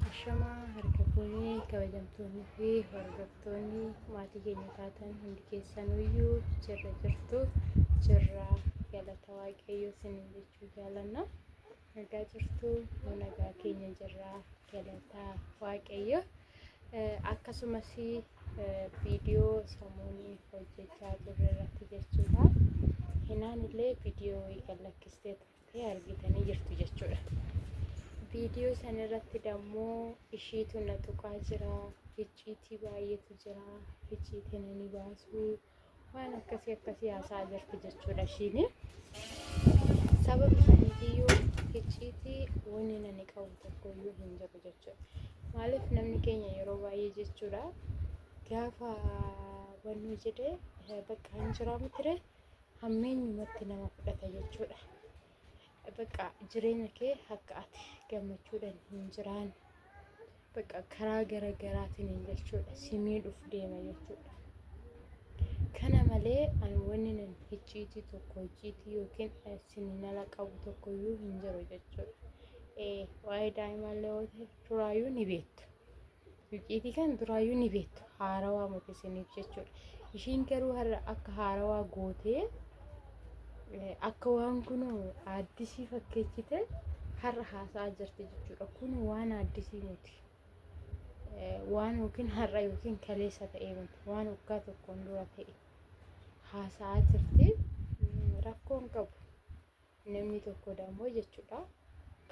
Ashamaa harka fuunee kabajamtoonni fi hordoftoonni maatii keenya taatan hundi keessanuyyuu jirra jirtu jirra galata waaqayyoo sinin jechuu jaalanna nagaa jirtu nu nagaa keenya jirra galata waaqayyo akkasumas viidiyoo samuunii hojjechaa jirre irratti jechuudha hinaan illee viidiyoo wayii kan lakkistee ta'e argitanii jirtu jechuudha. Viidiyoo san irratti dammoo ishiitu na tuqaa jira, hicciitii baay'eetu jira, hicciitii na ni baasu, waan akkasii akkasii haasaa jirti jechuudha ishiin. Sababa saniitiyyuu hicciitii wanni nani qabu tokko iyyuu hin jiru jechuudha. Maaliif namni keenya yeroo baay'ee jechuudha gaafa wannoo jedhee bakka hin jiraa miti hammeenyumatti nama fudhata jechuudha. Bakka jireenya kee akka ati gammachuudhaan hin jiraan bakka karaa gara garaatiin jechuudha si miidhuuf deema jechuudha. Kana malee ani wanni nan hicciitii tokko hicciitii yookiin isin hin ala qabu tokko iyyuu hin jiru jechuudha. Waa'ee daa'imaallee yoo ta'e duraayyuu ni beektu. Icciitii kan duraayyuu ni beektu haarawaa miti isiniif jechuudha. Ishiin garuu har'a akka haarawaa gootee eh, akka waan kun addisii fakkeechite har'a haasa'aa jirti jechuudha. Kun waan addisii miti. Eh, Waan yookiin har'a yookiin kaleessa ta'e miti. Waan waggaa tokkoon dura ta'e haasa'aa jirti. Mm, Rakkoon qabu. namni tokko dammoo jechuudha.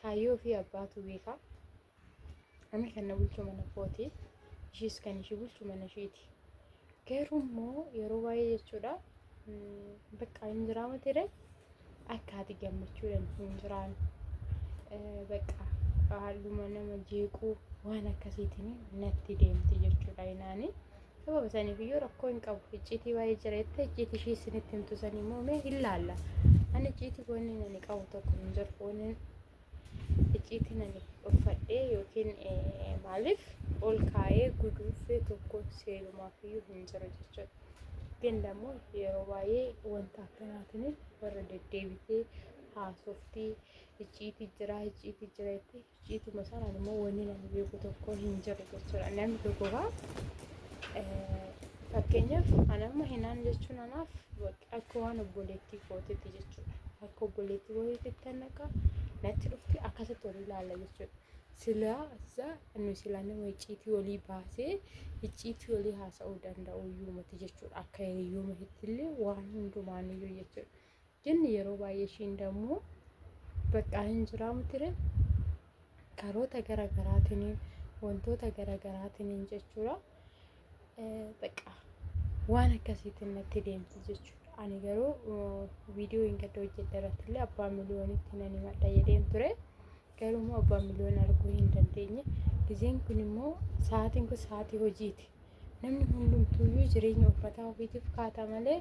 Kaayyoo fi abbaatu beeka. Ani kan na bulchu mana kooti. Ishiis kan ishii bulchu mana ishiiti. Garuu immoo yeroo baay'ee jechuudha bakka hin jiraama ture akka ati gammachuudhaan hin jiraan bakka haaluma nama jeequu waan akkasiitiin natti deemti jechuudha inaanii. Sababa saniif iyyuu rakkoo hin qabu. Icciitii waa'ee jira jettee icciitii ishii isinitti himtu sanii immoo mee hin laalla. Ani icciitii wanni ani qabu tokko hin jiru. Wanni icciitiin ani uffadhee yookiin maaliif ol kaa'ee guduunfee tokko seenumaaf iyyuu hin jiru jechuudha. ግን ደግሞ yeroo baay'ee wanta akkanaatiin warra deddeebitee haasoftii icciitii jira icciitii jira jettee Icciituma sanaan immoo wanni namni beeku tokko hin jiru jechuudha. Namni tokko gaa fakkeenyaaf ana amma hinaan jechuun anaaf akka waan obboleettii kootitti jechuudha. Akka obboleettii kootitti naqa natti dhufti akkasitti olii ilaalla jechuudha. Silaa isaa inni silaa nama icciitii olii baasee icciitii olii haasa'uu danda'u iyyuu miti jechuudha. Akka hiriyyuu mititti illee waan hundumaaniyyuu jechuudha. Jenne yeroo baay'ee ishiin dammoo baqqaa hin jiraa mutire karoota gara garaatiin wantoota gara garaatiin jechuudha. Baqqaa waan akkasiitiin natti deemti jechuudha. Ani garuu viidiyoo hin gadda hojjedhe irratti illee abbaa miliyoonitti nan himadha jedheen ture. Garuu immoo abbaan miliyoona arguu hin dandeenye. Gizeen kun immoo sa'aatiin kun sa'aatii hojiiti. Namni hundumtuuyyuu jireenya uffataa ofiitiif kaata malee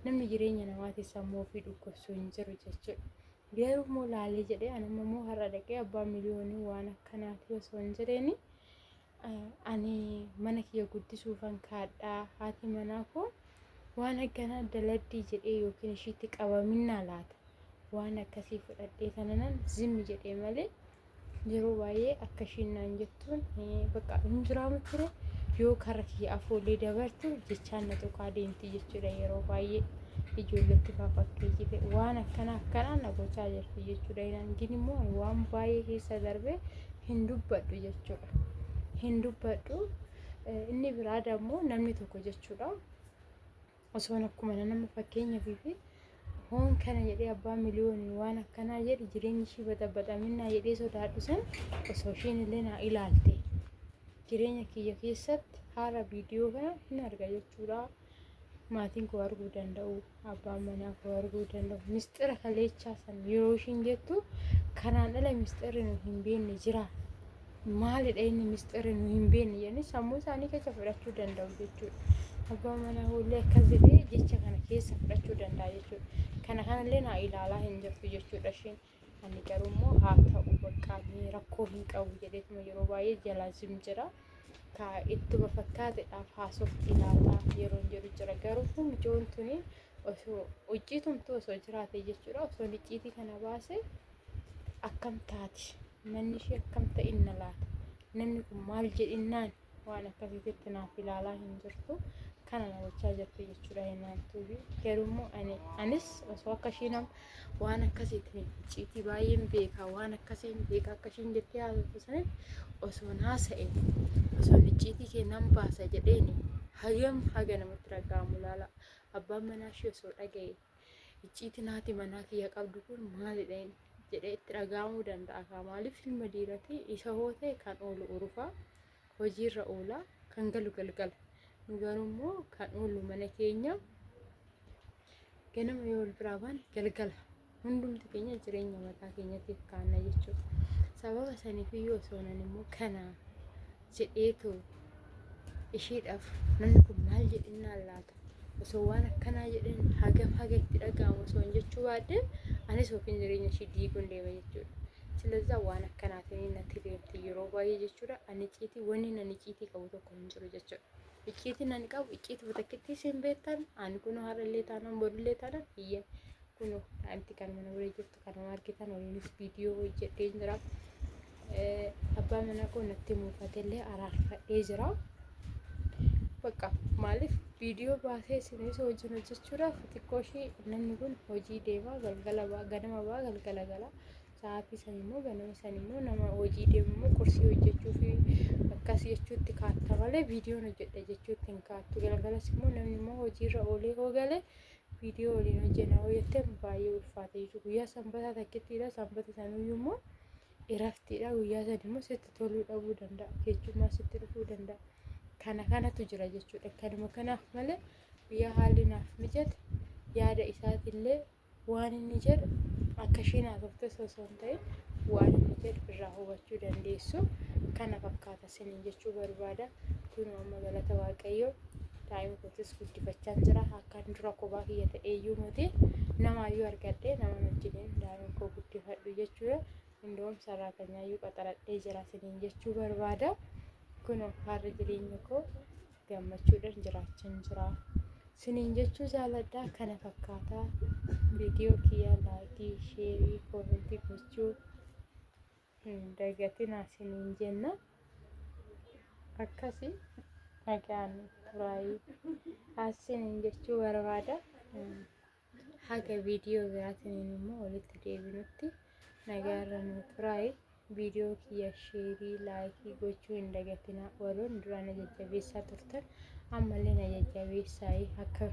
namni jireenya namaatiif sammuu ofii dhukkubsu hin jiru jechuudha. Garuu immoo laalee jedhee anamma immoo har'a dhaqee abbaa miliyoonii waan akkanaati osoo hin jireeni ani mana kiyya guddisuufan kaadha haati manaa koo waan akkanaa daladdii jedhee yookiin ishiitti qabaminaa laata waan akkasii fudhadhee tananan zimmi jedhee malee yeroo baay'ee akka ishiin naan jettuun bakka hin jiraamu ture yoo karra kiyya afoollee dabartu jechaan na tuqaa deemti jechuudha yeroo baay'ee ijoolletti faafakkeetii jite waan akkana akkanaa na gochaa jirti jechuudha. Inaan gin immoo waan baay'ee keessa darbee hin dubbadhu jechuudha. Hin dubbadhu inni biraa dammoo namni tokko jechuudha. Osoon akkuma nama fakkeenyaaf fi hoon kana jedhee abbaa miliyoonii waan akkanaa jedhe jireenyi ishii baxabaxaminaa jedhee sodaadhu san osoo ishiin illee naa ilaalte jireenya kiyya keessatti haala viidiyoo kana hin arga jechuudha. maatiin koo arguu danda'u abbaan manaa koo arguu danda'u misxira kaleechaa san yeroo ishiin jettu kanaan ala misxirri nu hin beekne jira maalidha inni misxirri nu hin beekne jedhanii sammuu isaanii keessa fudhachuu danda'u jechuudha. Abbaa manaa koollee akkas jedhee jecha kana keessa fudhachuu danda'a jechuudha. Kana kanallee naa ilaalaa hin jirtu jechuudha isheen. Ani garuu immoo haa ta'u baqqaa mee rakkoo hin qabu jedheetuma yeroo baay'ee jalaa zim jira. Ka ittuma fakkaatedhaaf haasofti laata yeroon jedhu jira. Garuu kun mijoon tuni osoo hojii tumtuu osoo jiraate jechuudha osoo icciitii kana baase akkam taati manni ishee akkam ta'inna laata namni kun maal jedhinnaan waan akkasiititti naaf ilaalaa hin jirtu kana na gochaa jirti jechuudha hennaan tuubi garuu ani anis osoo akka ishiin am- waan akkasiitiin icciitii baay'een beeka waan akkasiin beeka akka ishiin jettee haasoftu sanin osoo naasa'e osoo icciitii keenan baasa jedheeni hagam haga namatti dhaga'amu laala abbaan manaa ishee osoo dhaga'e icciitiin haati manaa kiyya qabdu kun maalidha inni jedhee itti dhaga'amuu danda'a kaa maaliif ilma dhiiratii isa hoo ta'e kan oolu urufaa hojiirra oola kan galu galgala nu garuu immoo kan oolu mana keenya ganama yoo wal biraa baane galgala hundumti keenya jireenya mataa keenyatiif kaanna jechuudha sababa saniif iyyuu osoo nan immoo kanaa jedheetu ishiidhaaf namni kun maal jedhinnaan laata osoo waan akkanaa jedhin hagam haga itti dhaga'amu osoo hin jechuu baadde anis yookiin jireenya ishii diiguun deema jechuudha. Silazaa waan akkanaatiin natti deemti yeroo baay'ee jechuudha. Ani icciitii wanni nan icciitii qabu tokko hin jiru jechuudha. Icciitiin ani qabu icciitii batakkittii isin beektan ani kunoo har'allee taanaan boodillee taanaan hiyya kunoo daa'imti kan mana wayii jirtu. Kanuma argitan waliinis viidiyoo hojjedhee jira. Abbaa manaa koo natti muufatellee araarfadhee jira. Bakka maaliif viidiyoo baasee isinis hojiin hojjechuudhaaf xiqqoo ishee namni kun hojii deemaa galgala ba'a ganama ba'a galgala gala. Sa'aatii san immoo ganama san immoo nama hojii deemu immoo qursii hojjechuu fi akkas jechuutti kaatta malee viidiyoon hojjedha jechuutti hin kaattu. Galgalas immoo namni immoo hojiirra oolee hoo galee viidiyoo waliin hojjenna yoo jettan baay'ee ulfaata jechuudha. Guyyaa sanbataa takkittiidha. Sanbata sanuyyuu immoo iraftiidha. Guyyaa san immoo sitti toluu dhabuu danda'a. Keechummaa sitti dhufuu danda'a. Kana kanatu jira jechuudha. Kanuma kanaaf malee guyyaa haalli naaf mijate yaada isaatiillee waan inni jedhu akka ishiin haasofte osoo hin ta'in waan inni jedhu irraa hubachuu dandeessu kana fakkaata. isiniin jechuu barbaada kunoo amma galata waaqayyoo daa'ima kootis guddifachaan jira akkaan dura kophaa kiyya ta'eeyyuu miti namaayyuu argadhee nama wajjiniin daa'ima koo guddifadhu jechuudha indoom sarraatanyaayyuu qaxaradhee jira isiniin jechuu barbaada kunoo harri jireenya koo gammachuudhaan jiraachaan jira isiniin jechuu jaaladhaa kana fakkaataa viidiyoo kiyya laayikii sheerii koomentii gochuu hin dagatinaa isiniin jenna akkasi nagaan turaayi haasiniin jechuu barbaada haga viidiyoo biraatiniin immoo walitti deebinutti nagaarra nu turaayi viidiyoo kiyya sheerii laayikii gochuu hin dagatinaa warroon duraa na jajjabeessaa turtan ammallee na jajjabeessaayi akka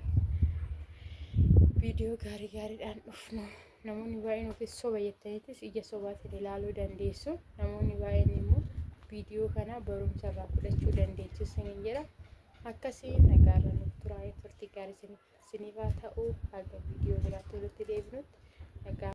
viidiyoo gaarii gaariidhaan dhufnu Namoonni baay'een ofiis soba jettaniitis ija sobaatiin ilaaluu dandeessu. Namoonni baay'een immoo viidiyoo kana barumsa irraa fudhachuu dandeessu isiniin jedha. Akkasii nagaa irra nuuf turaa turtii gaarii isiniif haa ta'u. Haga viidiyoo biraatti walitti deebinutti nagaa.